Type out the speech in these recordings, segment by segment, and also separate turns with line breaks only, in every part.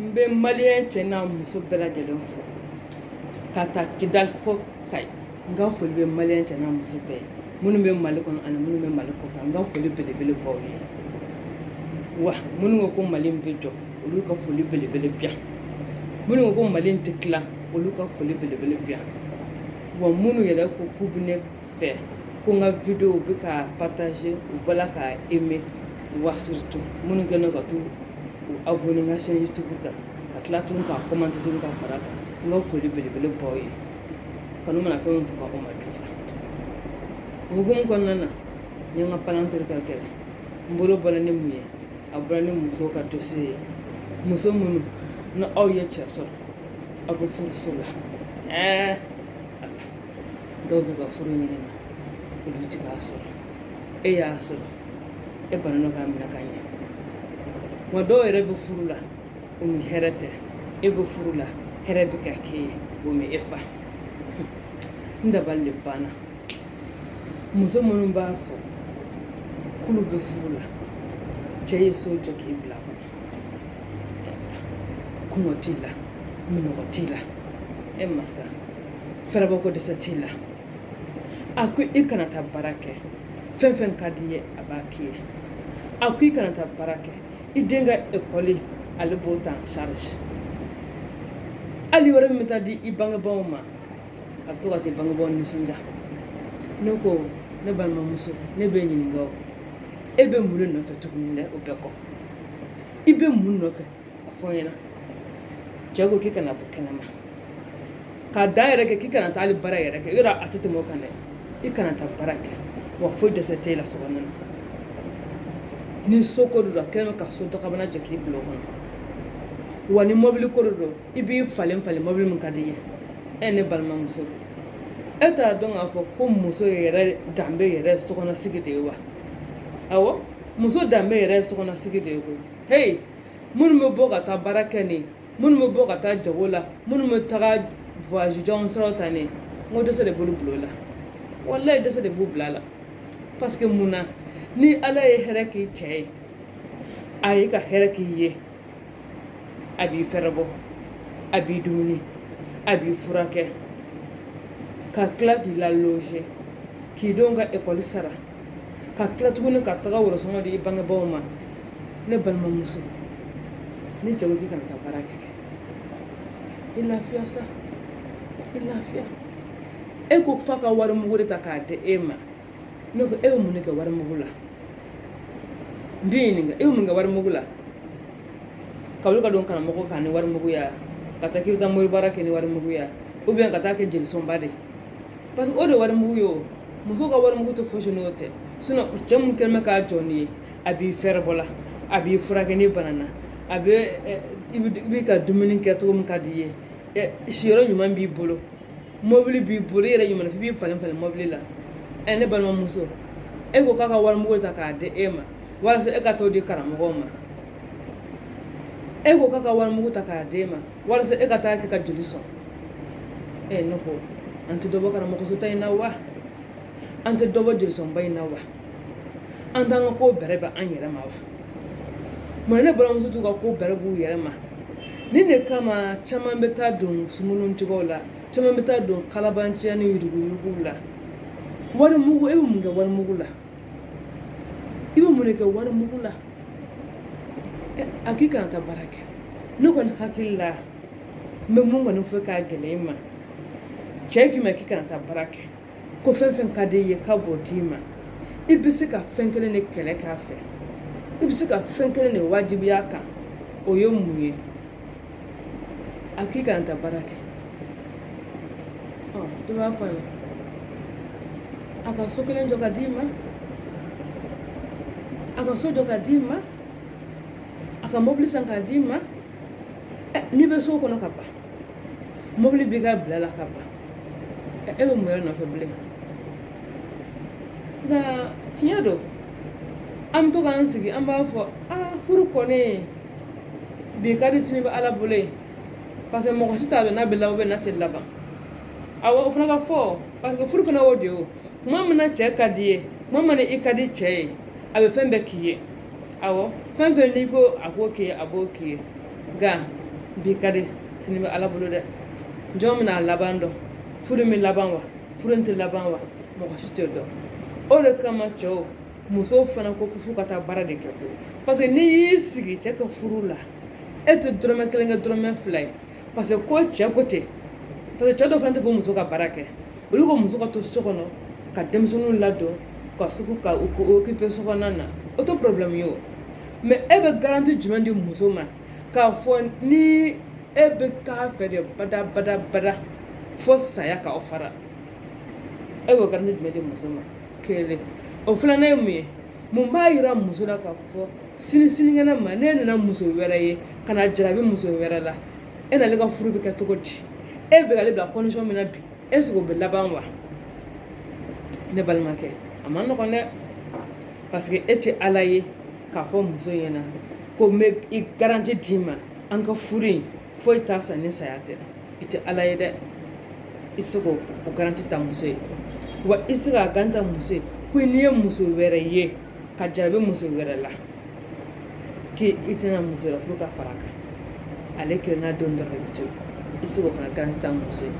n bɛ malien cɛ n'a muso bɛɛ lajɛlen fo ka ta kidali fo kayi n ka foli bɛ malien cɛ n'a muso bɛɛ minnu bɛ mali kɔnɔ ani minnu bɛ mali kɔ kan n ka foli belebele b'aw ye wa minnu ko ko mali bɛ jɔ olu ka foli belebele bi yan minnu ko ko mali tɛ tila olu ka foli belebele bi yan wa minnu yɛrɛ ko k'u bɛ ne fɛ ko n ka video bɛ ka partager u b'a la ka aimer wa surtout minnu kɛlen don ka t'u abonner n ka chaîne YouTube kan ka tila tuguni ka commenter tuguni ka fara a kan n ka foli belebele b'aw ye kanu mana fɛn min faga o ma jufa o hukumu kɔnɔna na n ye n ka palan tori ka kɛlɛ n bolo bɔra ni mun ye a bɔra ni musow ka dossier ye muso minnu ni aw ye cɛ sɔrɔ aw bɛ furuso la ɛɛ ala dɔw bɛ ka furu ɲini na olu tɛ k'a sɔrɔ e y'a sɔrɔ e banana k'a minɛ ka ɲɛ wa dɔw yɛrɛ bɛ furu la o ni hɛrɛ tɛ e bɛ furu la hɛrɛ bɛ ka k'e ye o ma e fa n dabali de banna muso minnu b'a fɔ k'olu bɛ furu la cɛ ye so jɔ k'i bila kɔnɔ kɔngɔ t'i la minnɔgɔ t'i la e masa fɛrɛbɔ ko dɛsɛ t'i la a ko i kana taa baara kɛ fɛn fɛn ka d'i ye a b'a k'i ye a ko i kana taa baara kɛ i den ka ekɔli ale b'o ta en charge hali wari min bɛ taa di i bangebaaw ma a bɛ to ka t'i bangebaaw nisɔndiya ne ko ne balimamuso ne b'i ɲininka o e bɛ mun de nɔfɛ tuguni dɛ o bɛɛ kɔ i bɛ mun nɔfɛ a fɔ n ɲɛ na cɛ ko k'i kana bɔ kɛnɛma k'a da yɛrɛ kɛ k'i kana taa hali baara yɛrɛ kɛ yɔrɔ a tɛ tɛmɛ o kan dɛ i kana taa baara kɛ wa foyi dɛsɛ t'i la so na ni so ko don a kɛlen bɛ ka so dakabana jɔ k'i bila kɔnɔ wa ni mɔbili ko don i b'i falen falen mɔbili min ka di i ye e ne balimamuso e t'a dɔn k'a fɔ ko muso yɛrɛ danbe yɛrɛ sokɔnɔsigi de ye wa awɔ muso danbe yɛrɛ ye sokɔnɔsigi de ye koyi heyi minnu bɛ bɔ ka taa baara kɛ ni minnu bɛ bɔ ka taa jago la minnu bɛ taga voyage janw sɔrɔ ta ne ko dɛsɛ de b'olu bil'a la walayi dɛsɛ de b'u bil'a la parce que mun na ni ala ye hɛrɛ k'i cɛ ye a ye ka hɛrɛ k'i ye a b'i fɛrɛbɔ a b'i dumuni a b'i furakɛ ka tila k'i la loger k'i denw ka ekɔli sara ka tila tuguni ka taga worosɔngɔ di i bangebaaw ma ne balimamuso ni cɛ ko k'i kana taa baara kɛ i lafiya sa i lafiya e ko f'a ka wari mugu de ta k'a di e ma ne ko e bɛ mun de kɛ wari mugu la n t'i ɲininka e bɛ mun kɛ wari mugu la ka wuli ka don karamɔgɔ kan ni wari mugu ye ka taa k'i bɛ taa mori baara kɛ ni wari mugu ye ou bien ka taa kɛ jelisɔnba de ye parce que o de wari mugu ye muso ka wari mugu tɛ fosi n'o tɛ cɛ min kɛlen bɛ ka jɔ n'i ye a b'i fɛɛrɛbɔ la a b'i furakɛ n'i banana a bɛ i bɛ ka dumuni kɛ cogo min ka di i ye siyɔrɔ ɲuman b'i bolo mɔbili b'i bolo i yɛrɛ ɲuman f'i b'i falen falen mɔbili la ɛ ne balimamuso e ko k'a ka wari mugu ta k'a di e ma walasa e ka t'o di karamɔgɔw ma e ko k'a ka wari mugu ta k'a di e ma walasa e ka taa kɛ ka jeli sɔn ɛ ne ko an tɛ dɔ bɔ karamɔgɔsotaa in na wa an tɛ dɔ bɔ jelisɔnba in na wa an t'an ka ko bɛrɛbɛn an yɛrɛ ma wa mun na ne balimamusow t'u ka ko bɛrɛbɛn u yɛrɛ ma nin de kama caman bɛ taa don sumunun cogow la caman bɛ taa don kalabanciya ni yuruguyuruguw la wari mugu e bɛ mun kɛ wari mugu la i bɛ mun de kɛ wari mugu la a k'i kana taa baara kɛ ne kɔni hakili la n bɛ min kɔni fɔ k'a gɛlɛya i ma cɛ k'i ma a k'i kana taa baara kɛ ko fɛn fɛn ka di i ye k'a b'o d'i ma i bɛ se ka fɛn kelen de kɛlɛ k'a fɛ i bɛ se ka fɛn kelen de wajibiya a kan o ye mun ye A k'i kana taa baara kɛ i b'a fɔ la a ka so kelen jɔ k'a d'i ma a ka so jɔ k'a d'i ma a ka mɔbili san k'a d'i ma n'i bɛ so kɔnɔ ka ban mɔbili b'i ka bila la ka ban e bɛ mun nɔfɛ bilen nka tiɲɛ don an bɛ to k'an sigi an b'a fɔ furu kɔni bi ka di sini bɛ ala bolo ye parce que mɔgɔ si t'a dɔn n'a bɛ laban n'a tɛ laban awa o fana ka fɔ parce que furu fana y'o de ye kuma min na cɛ ka d'i ye kuma min na i ka di cɛ ye a bɛ fɛn bɛɛ k'i ye awɔ fɛn fɛn n'i ko a k'o k'i ye a b'o k'i ye nka bi ka di sini bɛ ala bolo dɛ jɔn bɛna a laban dɔn furu bɛ laban wa furu tɛ laban wa mɔgɔ si tɛ dɔn o de kama cɛw musow fana ko ko f'u ka taa baara de kɛ ko paseke n'i y'i sigi cɛ ka furu la e tɛ dɔrɔmɛ kelen kɛ dɔrɔmɛ fila ye paseke ko cɛ ko ten paseke cɛ dɔ fana t'a fɛ muso ka baara kɛ olu ko muso ka to so kɔnɔ ka denmisɛnninw ladon k'a sigi k'a okipe so kɔnɔna na o tɛ porobilɛmu ye o mɛ e bɛ garanti jumɛn di muso ma k'a fɔ ni e bɛ k'a fɛ de bada bada bada fo saya k'aw fara e b'o garanti jumɛn di muso ma kelen o filanan ye mun ye mun b'a yira muso la k'a fɔ sini sinikɛnɛ ma n'e nana muso wɛrɛ ye ka na jarabi muso wɛrɛ la e n'ale ka furu bɛ kɛ cogo di e bɛ k'ale bila condition min na bi est ce que o bɛ laban wa ne balimakɛ a man nɔgɔn dɛ parce que e tɛ ala ye k'a fɔ muso ɲɛna ko n bɛ i garanti d'i ma an ka furu in foyi t'a sa ni saya tɛ i tɛ ala ye dɛ i tɛ se k'o garanti ta muso ye wa i tɛ se k'a garanti ta muso ye ko n'i ye muso wɛrɛ ye ka jarabi muso wɛrɛ la k'i tɛna muso wɛrɛ furu ka fara a kan ale kelenna don dɔrɔn i to i tɛ se k'o fana garanti ta muso ye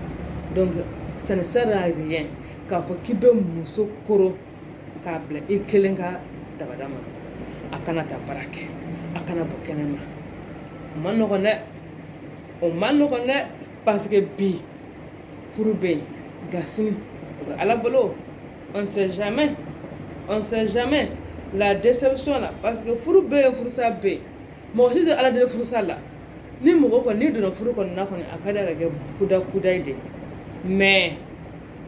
donc ça ne sert à rien k'a fɔ k'i bɛ muso koron k'a bila i kelen ka dabada ma a kana taa baara kɛ a kana bɔ kɛnɛma a man nɔgɔn dɛ o man nɔgɔn dɛ parce que bi furu bɛ yen nka sini o bɛ ala bolo on sait jamais on sait jamais la déception la parce que furu bɛ yen furusa bɛ yen mɔgɔ si tɛ ala deli furusa la ni mɔgɔ kɔni n'i donna furu kɔnɔna kɔni a ka di a ka kɛ kuda kudayi de mais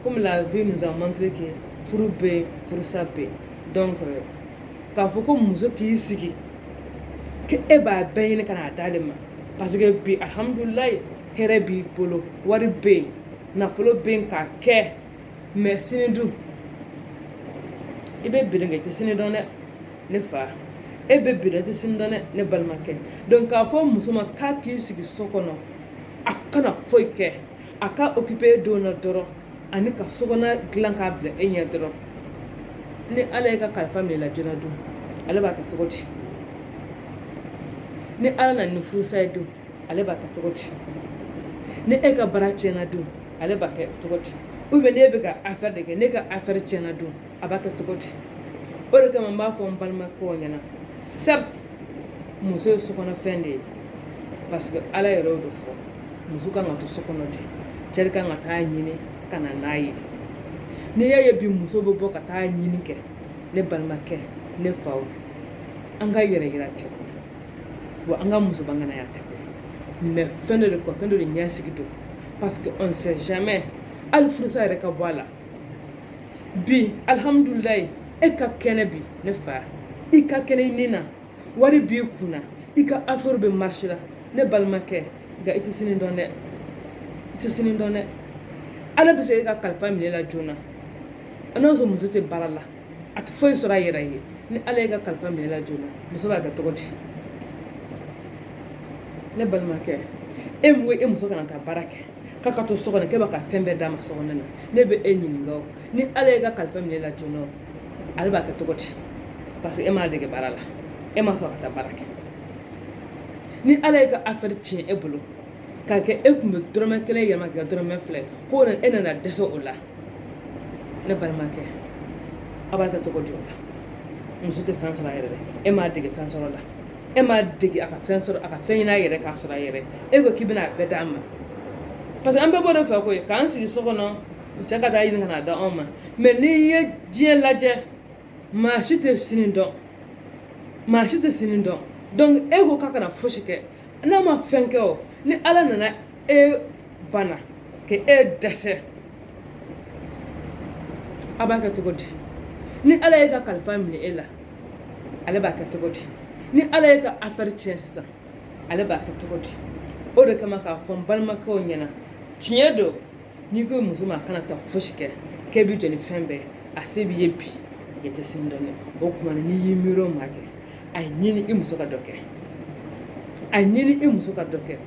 comme la vie nous a montré que furu bɛ yen furusa bɛ yen donc k'a fɔ ko muso k'i sigi ko e b'a bɛɛ ɲini ka n'a d'ale ma parce que bi alhamdulilayi hɛrɛ b'i bolo wari bɛ yen nafolo bɛ yen k'a kɛ mais sini dun i bɛ bi dɔn kɛ i tɛ sini dɔn dɛ ne fa e bɛ bi dɔn i tɛ sini dɔn dɛ ne balimakɛ donc k'a fɔ muso ma k'a k'i sigi so kɔnɔ a kana foyi kɛ a ka occuper denw na dɔrɔn ani ka so kɔnɔna dilan k'a bila e ɲɛ dɔrɔn ni ala y'e ka kalifa minɛ i la joona dun ale b'a kɛ cogo di ni ala na ni furusa ye dun ale b'a kɛ cogo di ni e ka baara tiɲɛna dun ale b'a kɛ cogo di ou bien n'e bɛ ka affaire de kɛ n'e ka affaire tiɲɛna dun a b'a kɛ cogo di o de kama n b'a fɔ n balimakɛw ɲɛna certes muso ye sokɔnɔfɛn de ye parce que ala yɛrɛ y'o de fɔ muso kan ka to so kɔnɔ de cɛ kan ka taa ɲini ka na n'a ye n'i y'a ye bi muso bɛ bɔ ka taa ɲini kɛ ne balimakɛ ne faw an ka yɛrɛ yira tɛ kɔ wa an ka muso banganaya tɛ kɔ mais fɛn dɔ de kɔ fɛn dɔ de ɲɛsigi don parce que on sait jamais hali furusa yɛrɛ ka bɔ a la bi alhamdulilayi e ka kɛnɛ bi ne fa i ka kɛnɛ i ni na wari b'i kun na i ka affaire bɛ marcher la ne balimakɛ nka i tɛ sini dɔn dɛ i tɛ sini dɔn dɛ ala bɛ se k'e ka kalifa minɛ i la joona n'a sɔrɔ muso tɛ baara la a tɛ foyi sɔrɔ a yɛrɛ ye ni ala y'e ka kalifa minɛ i la joona muso b'a kɛ cogo di ne balimakɛ e mun e muso kana taa baara kɛ k'a ka to so kɔnɔ k'e b'a ka fɛn bɛɛ d'a ma so kɔnɔ na ne bɛ e ɲininka o ni ala ye ka kalifa minɛ la joona o ale b'a kɛ cogo di parce que e m'a dege baara la e ma sɔn ka taa baara kɛ ni ala ye ka affaire tiɲɛ e bolo k'a kɛ e tun bɛ dɔrɔmɛ kelen yɛlɛma kɛ dɔrɔmɛ fila ye ko e nana dɛsɛ o la ne balimakɛ a b'a kɛ cogo di o la muso tɛ fɛn sɔrɔ a yɛrɛ dɛ e m'a dege fɛn sɔrɔ la e m'a dege a ka fɛn sɔrɔ a ka fɛn ɲini a yɛrɛ k'a sɔrɔ a yɛrɛ e ko k'i bɛna a bɛɛ d'a ma parce que an bɛɛ b'o de fɛ koyi k'an sigi so kɔnɔ cɛ ka taa ɲini ka n'a d'anw ma mais n'i ye diɲɛ lajɛ maa si tɛ sini dɔn maa si tɛ sini dɔn donc e ko k'a kana fosi kɛ n'a ma fɛn kɛ o ni ala nana e bana ka e dɛsɛ a b'a kɛ cogo di ni ala ye ka kalifa minɛ e la ale b'a kɛ cogo di ni ala ye ka affaire tiɲɛ sisan ale b'a kɛ cogo di o de kama k'a fɔ n balimakɛw ɲɛna tiɲɛ don n'i ko muso ma a kana taa fosi kɛ k'e bɛ jɔ ni fɛn bɛɛ a se b'i ye bi e tɛ sini dɔn dɛ o tuma na n'i y'i miiri o ma kɛ a ye ɲini i muso ka dɔ kɛ a ye ɲini i muso ka dɔ kɛ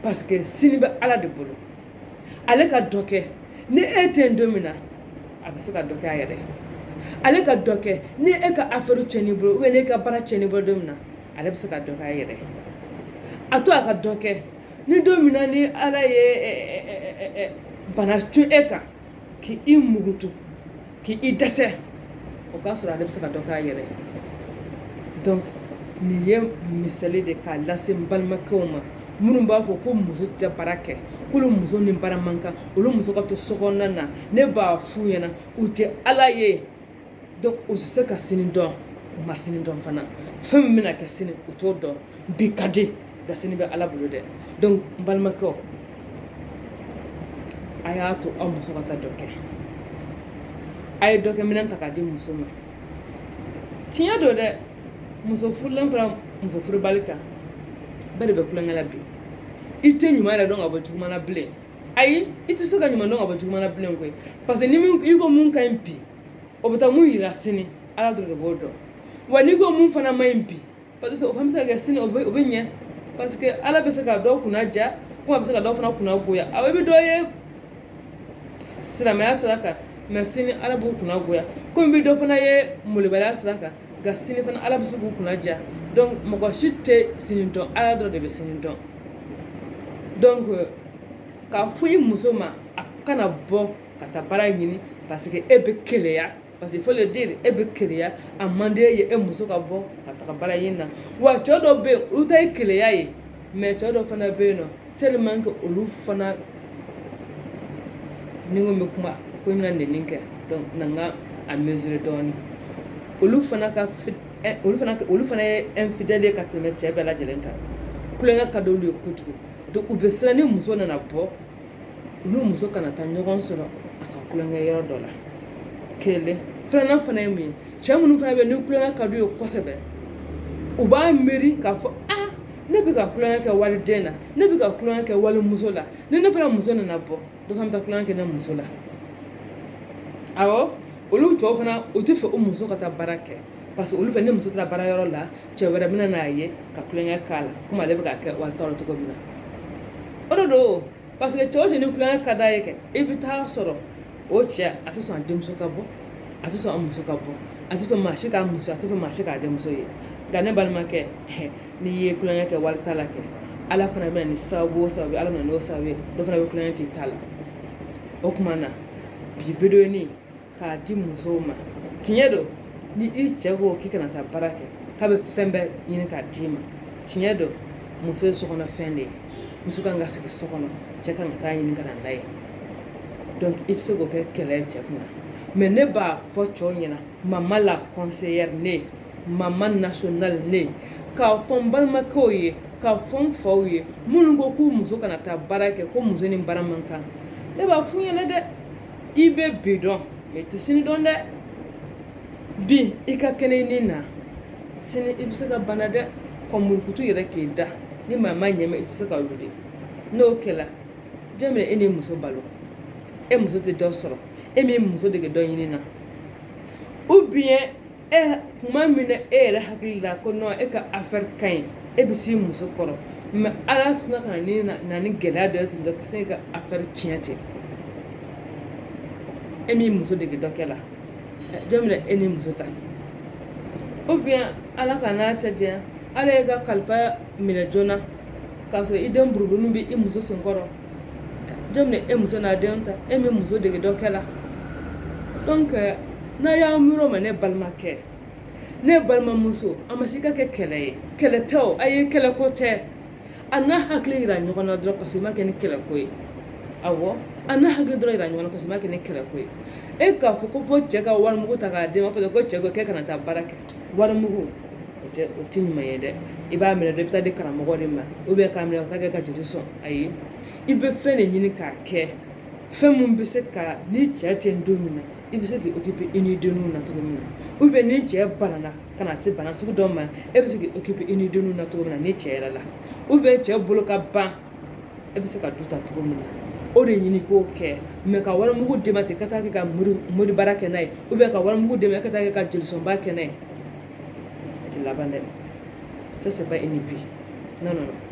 parce que sini bɛ ala de bolo ale ka dɔ kɛ ni e tɛ yen don min na a bɛ se ka dɔ kɛ a yɛrɛ ye ale ka dɔ kɛ ni e ka affaire tiɲɛn'i bolo ou bien n'e ka baara tiɲɛn'i bolo don min na ale bɛ se ka dɔ kɛ a yɛrɛ ye a to a ka dɔ kɛ ni don min na ni ala ye bana cun e kan k' i mugutu k' i dɛsɛ o k'a sɔrɔ ale bɛ se ka dɔ k'a yɛrɛ donc nin ye misali de k'a lase balimakɛw ma minnu b'a fɔ ko muso tɛ baara kɛ k'olu muso ni baara man kan olu muso ka to so kɔnɔ na ne b'a f'u ɲɛna u tɛ ala ye donc u tɛ se ka sini dɔn u ma sini dɔn fana fɛn min bɛna kɛ sini u t'o dɔn bi ka di nka sini bɛ ala bolo dɛ donc n balimakɛw a y'a to aw muso ka taa dɔ kɛ a ye dɔkɛ minɛn ta k'a di muso ma tiɲɛ don dɛ muso furulen fara muso furubali kan bɛɛ de bɛ tulonkɛ la bi i tɛ ɲuman yɛrɛ dɔn ka bɔ juguman na bilen ayi i tɛ se ka ɲuman dɔn ka bɔ juguman na bilen koyi parce que ni i ko mun ka ɲi bi o bɛ taa mun yira sini ala dɔrɔn de b'o dɔn wa n'i ko mun fana ma ɲi bi parce que o fana bɛ se ka kɛ sini o bɛ o bɛ ɲɛ parce que ala bɛ se ka dɔw kunna diya komi a bɛ se ka dɔw fana kunna goya awɔ i bɛ dɔ ye silamɛya sira kan mais sini ala b'u kunna goya komi i bɛ dɔ fana ye molobaliya sira kan nka sini fana ala bɛ se k'u kunna diya donc mɔgɔ si tɛ sini dɔn ala dɔrɔn de bɛ sini dɔn donc k'a fɔ i muso ma a kana bɔ ka taa baara ɲini parce que e bɛ keleya parce que il faut le dire e bɛ keleya a man di e ye e muso ka bɔ ka taga baara ɲini na wa cɛ dɔw bɛ yen olu ta ye keleya ye mais cɛ dɔ fana bɛ yen nɔ tellement que olu fana ni n ko n bɛ kuma ko n bɛna nɛni kɛ donc na n ka a mesurer dɔɔni olu fana ka eh, olu fana olu fana ye infidèle ye ka tɛmɛ cɛ bɛɛ lajɛlen kan kulonkɛ ka d'olu ye kojugu donc u bɛ siran ni muso nana bɔ u ni muso kana taa ɲɔgɔn sɔrɔ a ka kulonkɛ yɔrɔ dɔ la kelen filanan fana ye mun ye cɛ minnu fana bɛ yen ni kulonkɛ ka d'u ye kosɛbɛ u b'a miiri k'a fɔ ne bɛ ka kulonya kɛ wali den na ne bɛ ka kulonya kɛ wali muso la ni ne fana muso nana bɔ dɔ fana bɛ taa kulonya kɛ ne muso la awɔ olu cɛw fana u tɛ fɛ u muso ka taa baara kɛ parce que olu fɛ ne muso taara baara yɔrɔ la cɛ wɛrɛ bɛna n'a ye ka kulonya k'a la komi ale bɛ ka kɛ wali ta la cogo min na o de don parce que cɛ o cɛ ni kulonkɛ ka d'a ye kɛ i bɛ taa sɔrɔ o cɛ a tɛ sɔn a denmuso ka bɔ a tɛ sɔn a muso ka bɔ a tɛ fɛ maa si k'a muso a tɛ fɛ maa si k'a denmuso ye nka ne balimakɛ n'i ye kulonkɛ kɛ wali ta la kɛ ala fana bɛna ni sababu o sababu ala bɛna n'o sababu ye dɔ fana bɛ kulonkɛ k'i ta la o tuma na bi vidéo nin k'a di musow ma tiɲɛ don ni i cɛ ko k'i kana taa baara kɛ k'a bɛ fɛn bɛɛ ɲini k'a d'i ma tiɲɛ don muso ye sokɔnɔ fɛn de ye muso kan ka sigi so kɔnɔ cɛ kan ka taa ɲini ka na n'a ye donc i tɛ se k'o kɛ kɛlɛ ye cɛ kunna mais ne b'a fɔ cɛw ɲɛna mama la conseillère ne mama nationale ne k'a fɔ n balimakɛw ye k'a fɔ n faw ye minnu ko k'u muso kana taa baara kɛ ko muso ni baara man kan ne b'a f'u ɲɛna dɛ i bɛ bi dɔn mais i tɛ sini dɔn dɛ bi i ka kɛnɛ i ni na sini i bɛ se ka bana dɛ ka murukutu yɛrɛ k'i da ni maa ma ɲɛmɛ i tɛ se ka wuli n'o kɛla jɔn bɛ e ni muso balo e muso tɛ dɔ sɔrɔ e m'i muso dege dɔ ɲini na ou bien tuma min na e yɛrɛ hakili la ko non e ka affaire ka ɲi e bɛ s'i muso kɔrɔ mais ala sinna ka na na ni gɛlɛya dɔ ye ten ka se k'i ka affaire tiɲɛ ten e m'i muso dege dɔ kɛ la jɔn bɛna e ni muso ta ou bien ala ka n'a cɛ diya ala ye ka kalifa minɛ joona k'a sɔrɔ i den buruburu bɛ i muso sen kɔrɔ jɔn bɛ e muso n'a denw ta e m'i muso dege dɔ kɛ la n'a y'a miiri o ma ne balimakɛ ne balimamuso a ma se ka kɛ kɛlɛ ye kɛlɛ tɛ a ye kɛlɛ ko tɛ a n'a hakili yira ɲɔgɔn na dɔrɔn parce que i ma kɛ ni kɛlɛ ko ye awɔ a n'a hakili dɔrɔn yira ɲɔgɔn na parce que i ma kɛ ni kɛlɛ ko ye e k'a fɔ ko fɔ cɛ ka warimugu ta k'a d'e ma ko cɛ ko k'e kana taa baara kɛ warimugu o tɛ ɲuman ye dɛ i b'a minɛ i bɛ taa di karamɔgɔ de ma ou bien k'a minɛ ka kɛ ka juru sɔn ayi i bɛ fɛn de ɲini k'a kɛ fɛn min bɛ se ka ni cɛ tɛ don min na i bɛ se k'i occuper i ni denw na cogo min na ou bien ni cɛ banana ka na se bana sugu dɔ ma e bɛ se k'i occuper i ni denw na cogo min na ni cɛ yɛrɛ la ou bien cɛ bolo ka ban e bɛ se ka du ta cogo min na o de ɲini k'o kɛ mais ka warimugu d'e ma ten ka taa kɛ ka moribaara kɛ n'a ye ou bien ka warimugu d'e ma ka taa kɛ ka jelisɔnba kɛ n'a ye a tɛ laban dɛ ça c'est pas une vie non non non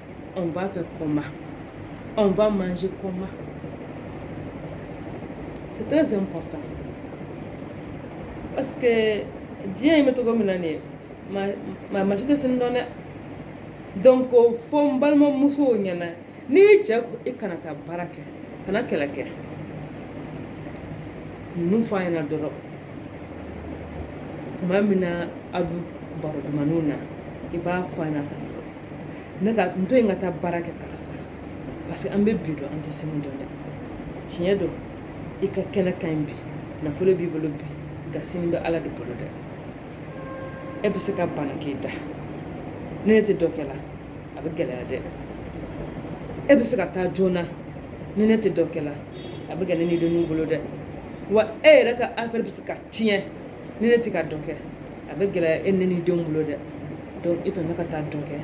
On va faire comment On va manger comment C'est très important. Parce que diɲɛ in bɛ cogo min na nin, maa si tɛ sini dɔn dɛ. Donc, a fɔ n balimamuso ɲɛna. Ni cɛ ko i kana taa baara kɛ kana kɛlɛ kɛ ninnu fɔ a ɲɛna dɔrɔn tuma min na a bɛ baro dumanninw na i b'a fɔ a ɲɛna tan dɔrɔn ne ka n to yen ka taa baara kɛ karisa parce que an bɛ bi dɔn an tɛ sini dɔn dɛ tiɲɛ don i ka kɛnɛ ka ɲi bi nafolo b'i bolo bi nka sini bɛ ala de bolo dɛ e bɛ se ka bana k'i da ni ne tɛ dɔ kɛ la a bɛ gɛlɛya dɛ e bɛ se ka taa joona ni ne tɛ dɔ kɛ la a bɛ gɛlɛya ni denninw bolo dɛ wa e yɛrɛ ka affaire bɛ se ka tiɲɛ ni ne tɛ ka dɔ kɛ a bɛ gɛlɛya e ne ni denw bolo dɛ donc e to ne ka taa dɔ kɛ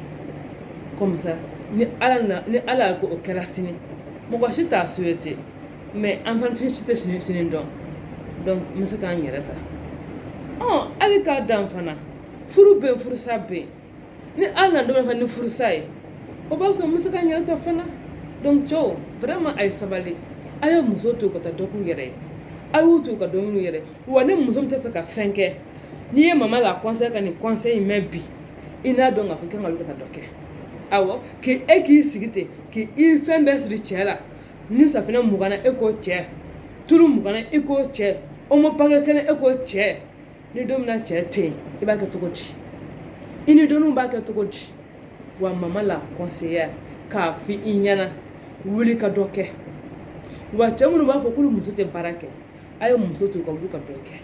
comme ça ni ala na ni ala ko o kɛra sini mɔgɔ si t'a souhaité mais an fana si tɛ sini sini dɔn donc n bɛ se k'an yɛrɛ ta ɔ hali k'a dan fana furu bɛ yen furusa bɛ yen ni ala nana dɔrɔn ka ni furusa ye o b'a sɔrɔ n bɛ se k'an yɛrɛ ta fana donc cɛw vraiment a ye sabali a ye muso to ka taa dɔ k'u yɛrɛ ye a y'u to ka dɔ ɲini u yɛrɛ wa ni muso min tɛ fɛ ka fɛn kɛ n'i ye mama la conseil ka nin conseil in mɛn bi i n'a dɔn k'a fɔ i kan ka wuli ka taa dɔ kɛ awɔ k'i e k'i sigi ten k'i fɛn bɛɛ siri cɛ la ni safinɛ mugan na e ko cɛ tulu mugan na e ko cɛ omo pakɛ kelen e ko cɛ ni don min na cɛ tɛ yen i b'a kɛ cogo di i ni denninw b'a kɛ cogo di wa mama la conseillère k'a fɔ i ɲɛna wuli ka dɔ kɛ wa cɛ minnu b'a fɔ k'olu muso tɛ baara kɛ a ye muso to ka wuli ka dɔ kɛ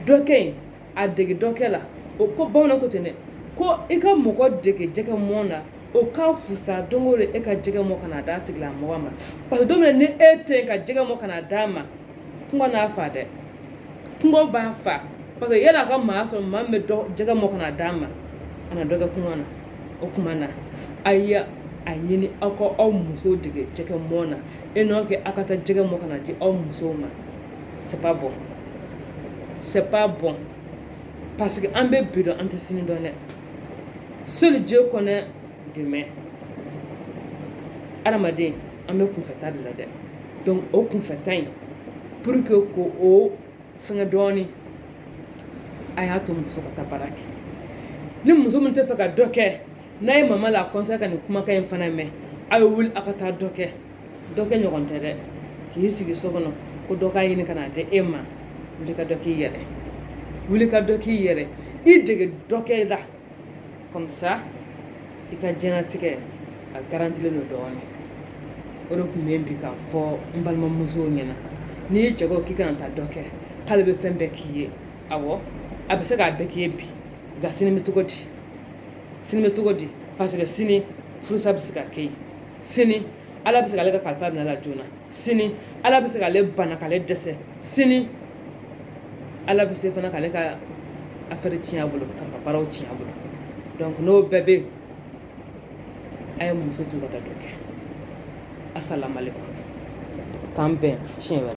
dɔ kɛ yen a dege dɔ kɛ la o ko bamanan ko ten dɛ ko i ka mɔgɔ dege jɛgɛ mɔn na o ka fusa don o don e ka jɛgɛ mɔn ka na d'a tigilamɔgɔ ma parce que don min na ni e tɛ yen ka jɛgɛ mɔn ka na d'a ma kɔngɔ n'a fa dɛ kɔngɔ b'a fa parce que yala a ka maa sɔrɔ maa min bɛ jɛgɛ mɔn ka na d'a ma a na dɔ kɛ kɔngɔ na o kuma na a ye a ɲini aw ka aw musow dege jɛgɛ mɔn na e n'aw kɛ aw ka taa jɛgɛ mɔn ka na di aw musow ma c'est pas bon c'est pas bon parce que an bɛ bi dɔn an tɛ sini dɔn dɛ seul Dieu connaît demain adamaden an bɛ kunfɛta de la dɛ donc o kunfɛta in pour que k'o fɛngɛ dɔɔnin a y'a to muso ka taa baara kɛ ni muso min tɛ fɛ ka dɔ kɛ n'a ye mama la conseil ka nin kumakan in fana mɛn a ye wuli a ka taa dɔ kɛ dɔ kɛ ɲɔgɔn tɛ dɛ k'i sigi so kɔnɔ ko dɔ k'a ɲini ka na di e ma wuli ka dɔ k'i yɛrɛ wuli ka dɔ k'i yɛrɛ i dege dɔ kɛ la comme ça i ka jɛnatigɛ a garantilen don dɔɔnin o de tun bɛ bi k'a fɔ n balimamusow ɲɛna n'i cɛ ko k'i kana taa dɔ kɛ k'ale bɛ fɛn bɛɛ k'i ye awɔ a bɛ se k'a bɛɛ k'i ye bi nka sini bɛ cogo di sini bɛ cogo di parce que sini furusa bɛ se ka kɛ yen sini ala bɛ se k'ale ka kalifa minɛ a la joona sini ala bɛ se k'ale bana k'ale dɛsɛ sini ala bɛ se fana k'ale ka affaire tiɲɛ a bolo k'a ka baaraw tiɲɛ a bolo donc n'o bɛɛ bɛ yen a ye muso to ka taa dɔ kɛ asalamualeykum k'an bɛn siɲɛ wɛrɛ